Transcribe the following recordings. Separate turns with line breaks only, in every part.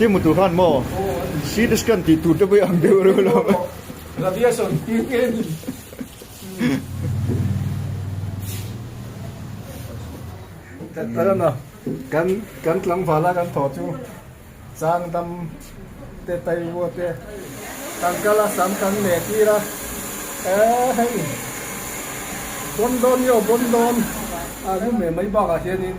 Ti hmu tur khan maw? CT scan tih tur te pawh i ang deuh reuh lo. Radiation hming
nge ni? Ka la na, kan kan tlangval a kan thaw chu changdam te taivua te kan kal a sam kan meh tir a, eh hei, Bondawnio Bondawn a lu meh mai bakah hianin,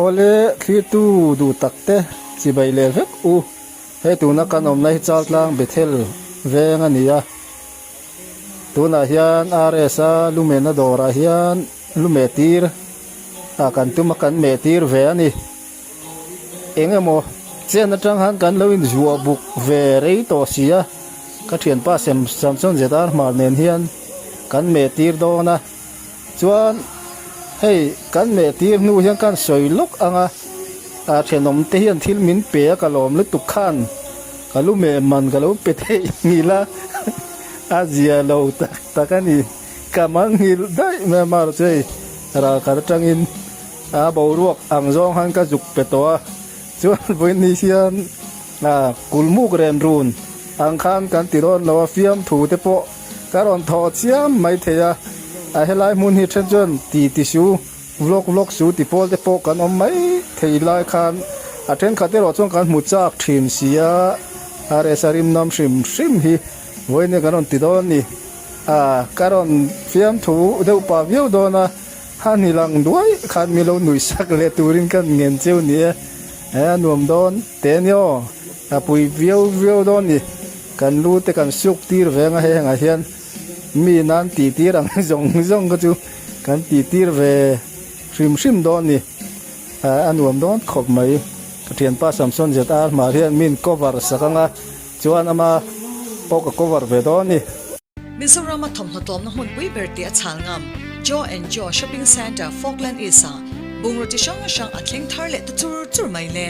Awle thlirtu duh tak te, chibai leh vek u. Hei tuna kan awmna hi Chaltlang Bethel veng a ni a. Tunah hian RS a lu mehna dawrah hian lu meh tir ah kan tum a, kan meh tir ve a ni. Eng emaw chen atang han kan lo in zuah buk ve rei tawh si a, ka thianpa Samson Zedar Hmar nen hian kan meh tir dawn a. chuan hei kan meh tir hnu hian khan sawi lawk anga a thenawm te hian thil min pe a ka lawm lutuk khan ka lu meh man ka lo pe theih nghi la a zia lo tak tak a ni ka man nghil daih mai a mar chu hei ralkhat atangin a boruak ang zawng khan ka zuk pe tawh a chuan vawi ni hian a kulmuk renrun ang khan kan ti dawn lo a fiamthu te pawh Ka rawn thaw chiam mai thei a, a helai hmun hi then chuan ti ti su, vlog vlog su ti pawl te pawh kan awm mai thei lai khan a thenkhat erawh chuan kan hmu chak thin si a, a resa rimnam hrim hrim hi vawinia kan rawn ti dawn ni a, ka rawn fiamthu deuh pah viau dawn a, hanilang duaih khan min lo nuih sak leh turin kan ngen cheu ni e, a nuam dawn teh ni aw, a pui viau viau dawn ni. Kan lu te kan siuk tir ve ang a, hengah hian mi nan ti tir ang zawng zawng kha chu kan ti tir ve hrim hrim dawn a ni. A nuam dawn khawp mai. Pathianpa Samson zet a hmah hian min cover sak ang a, chuan ama pawh ka cover ve dawn a ni. Mizorama
thawmhnaw tlawmna hmunpui ber tia chhal ngam, Joe and Joe Shopping Centre, Falkland East ah bungraw chi hrang hrang a thleng thar leh ta chur chur mai hle.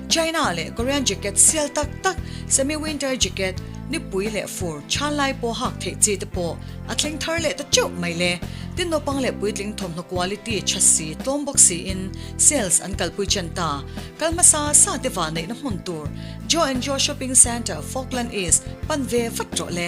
China leh Korean jacket sial tak tak, semi winter jacket, nipui leh fur chhan lai pawh hak theih chi te pawh a thleng thar leh ta teuh mai hle. Tin naupang leh puitling thawmhnaw quality chha si, tlawm bawk siin sales an kalpui chan ta. Kal hmasa sa te vah neihna hmun tur Joe and Joe Shopping Centre, Falkland East pan ve vat rawh le.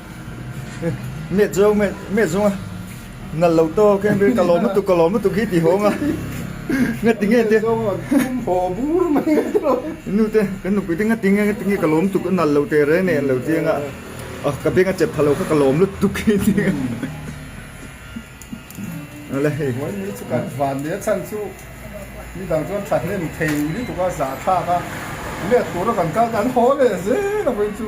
Met zung met met zung a nal lo to keng ber ka lawm lutuk ka lawm lutuk hi ti hawng a nga ti nge te haw
bur mai nu te kan nupui
te nga ti nge nga ti nge ka lawm lutuk a nal lo te re nen lo chiang a ah ka benga chet thalo kha ka lawm lutuk hi ti a ale hei huan ni chu kan van
leh a chhan chu ni dang chuan thahnem thei lutuk a za thlak a met tur a kan kal kan haw leh zêl a vawin chu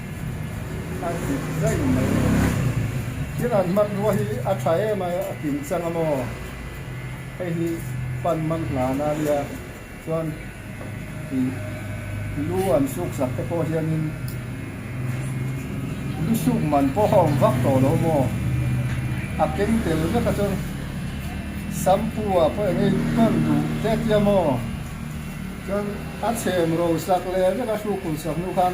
A dik zai mai lo. Thil an hmanrua hi a tha em a tin chang a maw? Hei hi pan man hlan a nia chuan ih lu an suk sak te pawh hianin lu suk man pawh a awm vak tawh lo maw? A keng tel vek a chuan shampoo ah pawh eng a inton duh det hiam aw? Chuan a chhem ro sak leh vek a hruk hun sak hnu khan.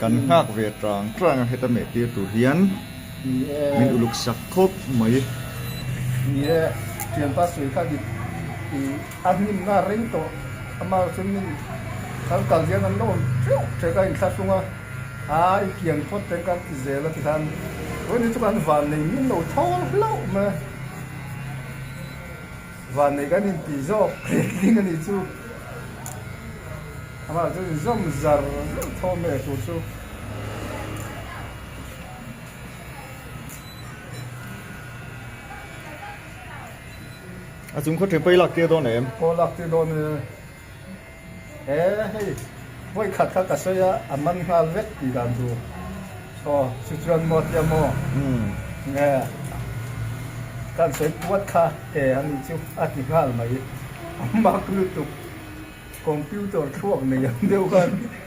Kan nghak ve trang trang a heta meh tir tur hian min uluk sak khawp mai. Ni e, thianpa sawi kha dik i a hnimna reng
tawh amah chuan min sal kal hian an la awm teuh che ka inthlahrung a, a i kian phawt teng kan ti zel a ti khan ruahni chu kan van nei min lo thawl hlauh mai. Vanneih kan inti zawk tling a nih chu. Amah chu inzawm zar
zauh thawm e tur chu. A chung khaw ṭhen pawh i laktir dawn em? Aw laktir dawn e. He hei vawi khat kha ka sawi a, a man nghal vek tih dan tur. Aw, chu chuan maw tia maw? Nge kan sawi puat kha he a nih chu a ti nghal mai. A mak
lutuk, computer thluak nei ang deuh khan.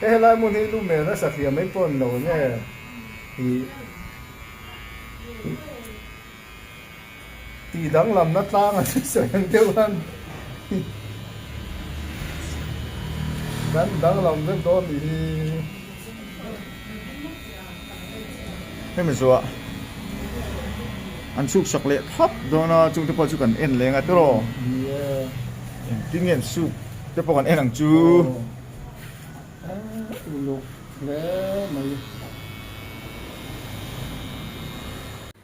He helai hmun hi lu mel nasa hliam mai pawh an lo awm e. Hi tih danglamna tlang a si sawi ang deuh an ni. Kan danglam vek dawn ni hi.
Hemi zuah an chuksak leh thap dawn a, chungte pawh chu kan en leng a tiraw? Engtin ngen suk te pawh kan en ang chu?
Uluk hle mai.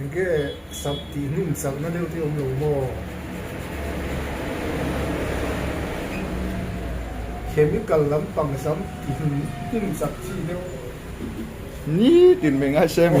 Engge sak tih hnim sakna deuh te awm lo maw? Chemical lampang sam tih hnim sak chi deuh. Ni
tin mai ngai se mi.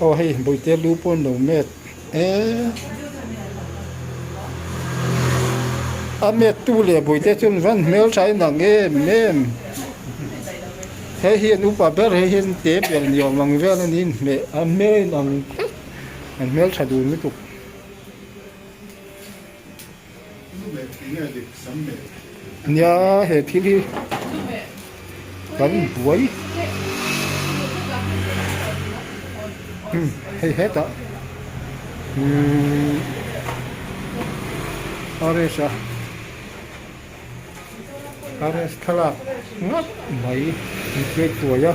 Aw hei buaite lu pawn lo met e. A met tu leh buaite chuan van hmel tha in ang em em. He hian upa ber he hian te ber ni awm ang vel a nih hmel a hmel a in ang an hmel tha dun lutuk. Nia he thil hi kan buai umm hei hetah umm rs a rs thlalak ngap mai inpek tuai a.